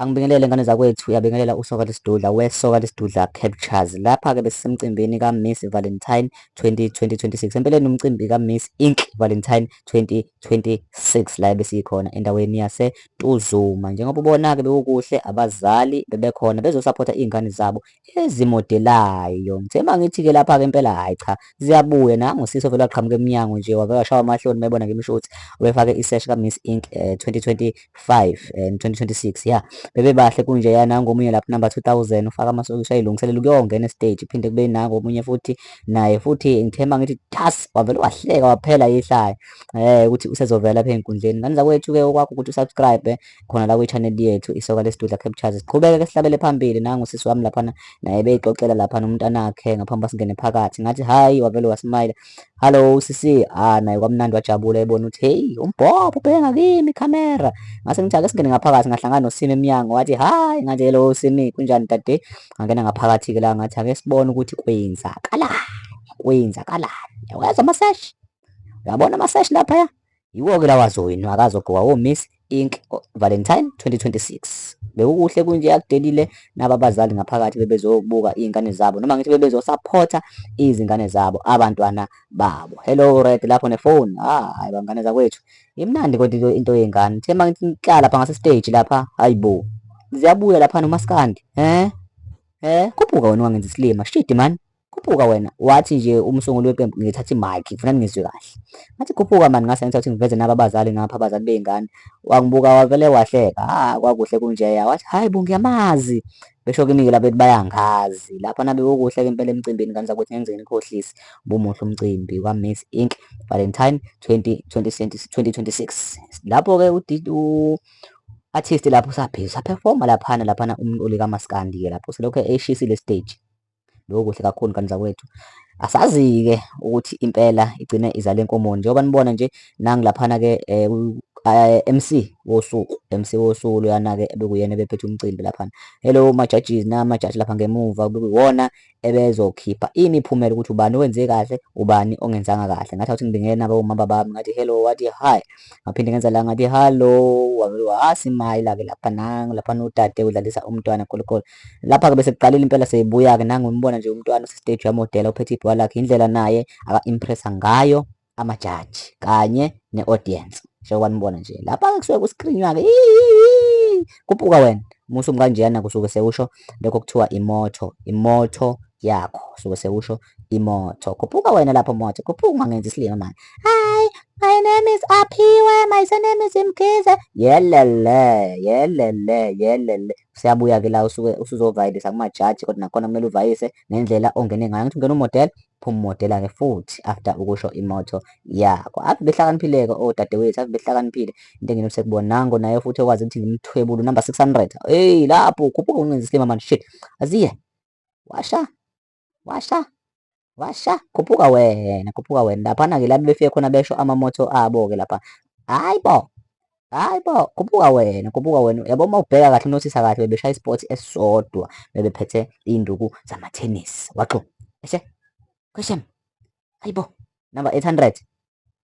Angibingelele ngane zakwethu uyabingelela usoka lesidudla wesoka lesidudla captures lapha ke besemcimbini ka Miss Valentine 2026 empeleni umcimbi ka Miss Ink Valentine 2026 la besikhona endaweni yase Tuzuma njengoba ubona ke bewukuhle abazali bebekhona bezosupporta izingane zabo ezimodelayo ngithe uma ngithi-ke lapha-ke impela hhayi cha ziyabuya nangu sisi ovele waqhamuka emnyango nje wavele washawa amahloni mayebona ngimisho ukuthi ubefake isesh ka-miss ink um eh, 2025 and 2026 ya bebebahle kunje ya nangu omunye lapho number 2000 ufaka amasokisha ayilungiselela ukuyongena estage phinde kube nangu omunye futhi naye futhi ngithe uma ngithi tas wavele wahleka waphela yihlaya um ukuthi usezovela lapha ey'nkundleni ngani zakwethu-ke okwakho ukuthi usubscribe khona la kwi-channel yethu isoka lesidudla captures siqhubeke ke sihlabele phambili nangu sisi wami laphana naye beyixoxela laphana umntanakhe ngaphambi basingene phakathi ngathi hayi wavele wasmile hallo sisi ah naye kwamnandi wajabula ebona ukuthi heyi umbhobho ubheka kimi camera ngase ngithi ake singene ngaphakathi ngahlangana nosimi emnyango wathi hayi ngathi hello simi kunjani dade ngangena ngaphakathi ke la ngathi ake sibone ukuthi kwenzakalani kwenzakalani yaweza amaseshi uyabona amaseshi lapha ya Yiwo-ke lawa zowenu akazogqokwa woMiss Ink Valentine 2026. Bekukuhle kunje akudelile naba abazali ngaphakathi bebezobuka iy'ngane zabo noma ngithi bebezosaphotha izingane zabo abantwana babo. Hello Red lapho nefoni. Ah, hayi bangane zakwethu. Imnandi kodwa into yengane. Thema ngithi ngihlala lapha ngase stage lapha. Hayibo. Ziyabuya lapha nomaskandi. Eh? Eh, khuphuka wena wangenza isilima. Shit man. khuphuka wena wathi nje umsunguli weqembu ngithatha i-mic ngifuna ningizwe kahle ngathi khuphuka mani ngase ngithatha ngiveze naba abazali ngapha abazali bey'ngane wangibuka wavele wahleka ha kwakuhle kunjeya wathi hhayi bo ngiyamazi besho kimi-ke laba bethi bayangazi lapha nabe kukuhle-ke impela emcimbini ngane zakuthi ngeke ngize nginikhohlise bumuhle umcimbi kwa-miss inc valentine 2026 lapho-ke u-artist lapho usaphezulu saphefoma laphana laphana umuntu olikamaskandiye lapho selokhu eshisi le stage Lokho kuhle kakhulu ngane zakwethu. Asazi-ke ukuthi impela igcine izale inkomo njengoba nibona nje nangu laphana-ke eh, eh, MC wosuku MC wosuku loyana-ke ebekuyena ebephethe umcimbi laphana hello ma-judges nama-judge lapha ngemuva bekuyiwona ebezokhipha imiphumela ukuthi ubani owenze kahle ubani ongenzanga kahle ngathi awuthi ngibingena bawumama bami ngathi hello wathi hi ngaphinde ngenza la ngathi hallo wabe wasimayila-ke lapha nangu laphana udade udlalisa umntwana khulukhulu lapha ke bese kuqalile impela seyibuya ke nangu umbona nje umntwana ose stage yamodela uphethe ibhola lakhe indlela naye aka impressa ngayo amajaji kanye ne audience sho kwanibona nje lapha ke kusuke kuscreenwa ke kupuka wena musu mkanjena kusuke sekusho lokho kuthiwa imoto imoto yakho suke sekusho imoto khuphuka wena lapho moto khuphuka ungangenzi isilima manje hi my name is aphiwe my surname is mkhize yelele yelele yelele Siyabuya-ke la usuke usuzovayelisa kumajaji kodwa nakhona kumele uvayise ngendlela ongene ngayo. Ngithi ungena umodela, phuma umodela-ke futhi after ukusho imoto yakho. Ave behlakaniphile-ke odadewethu, ave behlakaniphile. Into engine usekubona nango naye futhi ekwazi ukuthi ngimthwebule unumber 600. Hey lapho ukhuphuka ungenza isilima manje shit. Aziye. Washa. washa washa khuphuka wena khuphuka wena laphana-ke la befike khona besho amamoto abo-ke lapha hayi bo hayi bo khuphuka wena khuphuka wena yabo uma ubheka kahle unothisa kahle bebeshaya isport esisodwa bebephethe iy'nduku zamathenis waxo eshe kweshem hayi bo number 800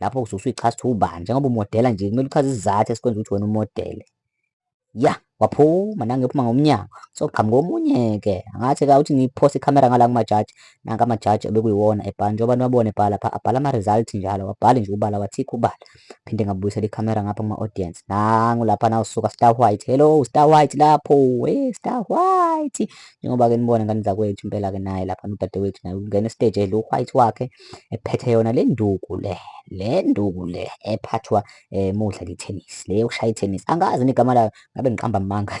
lapho usuke usuyichaza ukuthi ubani njengoba umodela nje kumele uchaze isizathu esikwenza ukuthi wena umodele ya waphuma nange uphuma ngomnyango soqhamuka omunye-ke angathi ka uthi ngiphose ikhamera ngala kumajaji nanka amajaji ebekuyiwona ebhala njengoba abantu babone ebhala pha abhala ama-result njalo wabhale nje ubala wathikha ubala phinde ngabuyisela ikhamera ngapha kuma-audience nangu lapha nawusuka star white hello star white lapho we star white njengoba-ke nibone ngane zakwethu impela-ke naye lapha nodadewethu naye ungena esiteji edla u-white wakhe ephethe yona le nduku le le nduku le ephathwa eh, mudla li-tennis le yokushaya i-tennis angazi nigama layo ngabe ngiqamba amanga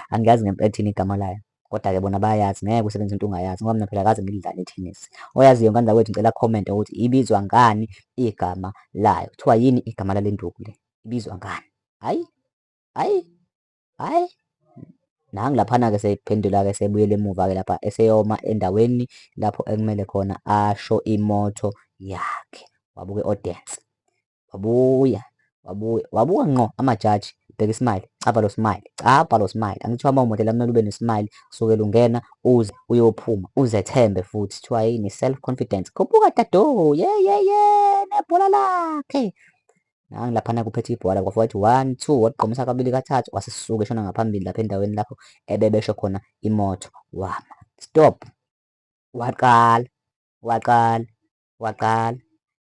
angiyazi ngempethini igama layo kodwa-ke bona bayazi ngeke usebenza into ungayazi ngoba mina phela kaze ngilidlale i-tennis oyaziyo ngane zakwethu ngicela comment ukuthi ibizwa ngani igama layo kuthiwa yini igama lale nduku le ibizwa ngani hayi hayi Hhayi, nangu laphana-ke seyiphendula-ke sebuyele emuva-ke lapha eseyoma endaweni lapho ekumele khona asho imoto yakhe. Wabuke audience, wabuya, wabuya, wabuka ngqo amajaji bheka ismile cava lo smile cava lo smile angithiwa uma umodela kumele ube nesmile kusukela ungena uze uyophuma uzethembe futhi kuthiwa yini self confidence khuphuka dadoo yeyeye nebhola lakhe nangi laphana kuphethe ibhola kwafa wathi one two wagqomisa kabili kathathu wasisuka eshona ngaphambili lapha endaweni lapho ebebesho khona imoto wama stop waqala waqala waqala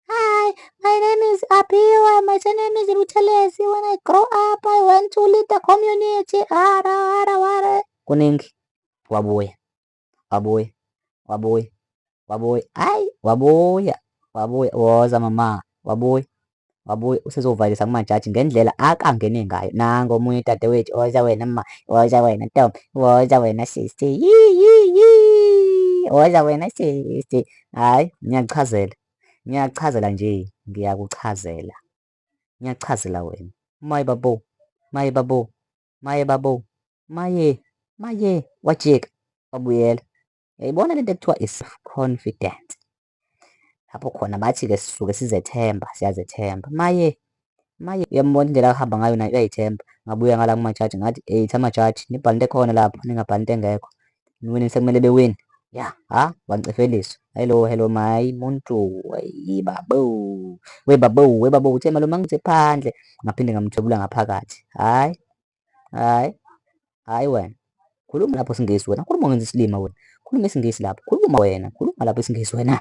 hi my name is apiwa my surname is buthelezi when i grow up i want to lead the community ara ara ara kuningi wabuya wabuya wabuya wabuya hayi wabuya wabuya woza mama wabuya wabuye usezovalisa kumajaji ngendlela akangene ngayo nango omunye udadewethu woza wena ma woza wena ntombi woza wena sisi woza wena sisi hhayi ngiyakuchazela ngiyakuchazela nje ngiyakuchazela ngiyakuchazela wena maye babo maye babo Maye babo. Maye. Maye. Wajika. Wabuyela. Yayibona lento ekuthiwa is confident. Lapho khona bathi ke sisuke sizethemba, siyazethemba. Maye. Maye uyambona indlela ahamba ngayo naye uyayithemba. Ngabuya ngala kumajaji ngathi, "Hey, thamajaji, nibhale into ekhona lapho, ningabhali into engekho." niwinile sekumele bewine ya ha wancefeliswa hello hello my muntu yibabo webabo webabo uthe malume angithe phandle ngaphinde ngamthwebula ngaphakathi hayi hayi hayi wena khuluma lapho singisi wena khuluma ngenza isilima wena khuluma isingisi lapho khuluma wena khuluma lapho isingisi wena